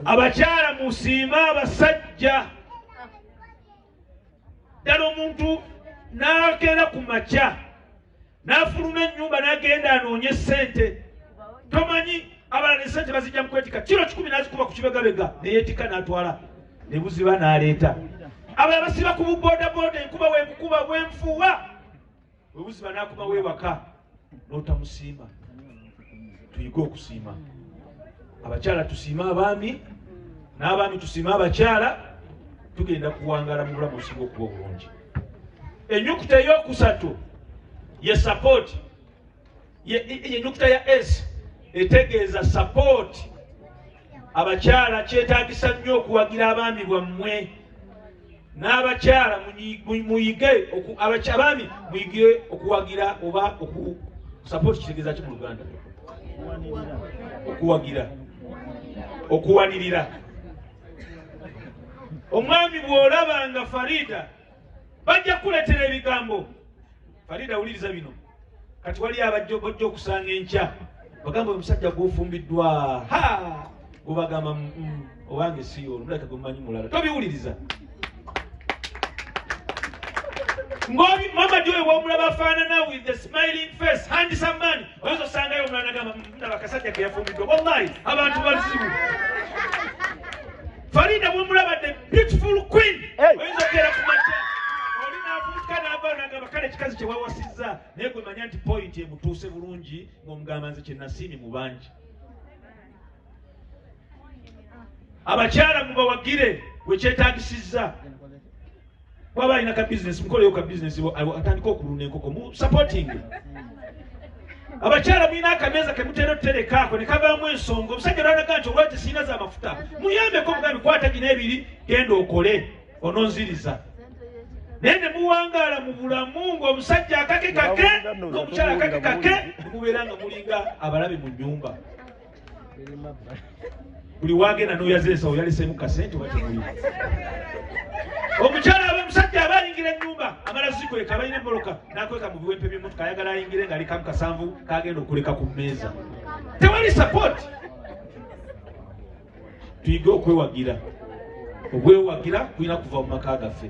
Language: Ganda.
abakyala musiima abasajja ddala omuntu n'akeera ku makya n'afuluma ennyumba n'agenda anoonye ssente tomanyi abalala esente bazijja mukwetika kiro kikumi nazikuba ku kibegabega neyetika natwala nebuziba naleeta abala basiba ku bubodaboda enkuba wenkukuba bwenfuwa webuzima nakuba wewaka notamusiima tuyige okusiima abakyala tusiima abaami n'abaami tusiima abakyala tugenda kuwangala mu bulamu osinga okuba obulungi enyukuta eyokusatu ye sapooti yenyukuta ya s etegeeza support abakyala kyetagisa nnyo okuwagira abaami bwammwe n'abakyala muyige abaami muyige okuwagira oba support kitegeeza ki mu luganda okuwagira okuwanirira omwami bw'olaba nga farida bajja kukuletera ebigambo farida wuliriza bino kati wali abajja bajja okusanga enkya bagamba omusajja gwofumbiddwa ha gubagamba mm, mm, owange siyo olumulaka gwemumanyi mulala tobiwuliriza ngobi mama joy womulaba afaanana with the smiling face handsome man oyinza osangayo omulala nagamba mm, ndaba kasajja keyafumbiddwa wallahi abantu bazibu Farida bwemulaba the beautiful queen oyinza okera ku makya oli navuutika naava nagamba kale ekikazi kyewawasizza naye gwe manya nti point emutuuse bulungi ng'omugamba nze kyenasiimi mu bangi abakyala mubawagire wekyetagisizza bwaba alina ka bizinesi mukoleyo ka bizinesi atandika okulunda enkoko mu sapotingi abakyala mulina akameeza kemutera otuterekaako ne kavaamu ensonga omusajja lwanaga nti olwati siina za mafuta muyambeko mugambi kwata gina ebiri genda okole ononziriza naye ne muwangaala mu bulamu ng'omusajja akake kake n'omukyala akake kake mubeera nga mulinga abalabe mu nnyumba buli wagenda noyaza ensawo yaleseemu kasente watemuli omukyala aba omusajja aba ayingira enyumba amala zikweka abalina emboloka nakweka mu biwempe byemotoka ayagala ayingire nga alikamu kasanvu kagenda okuleka ku mmeeza tewali sapooti tuyige okwewagira okwewagira kulina kuva mu maka gaffe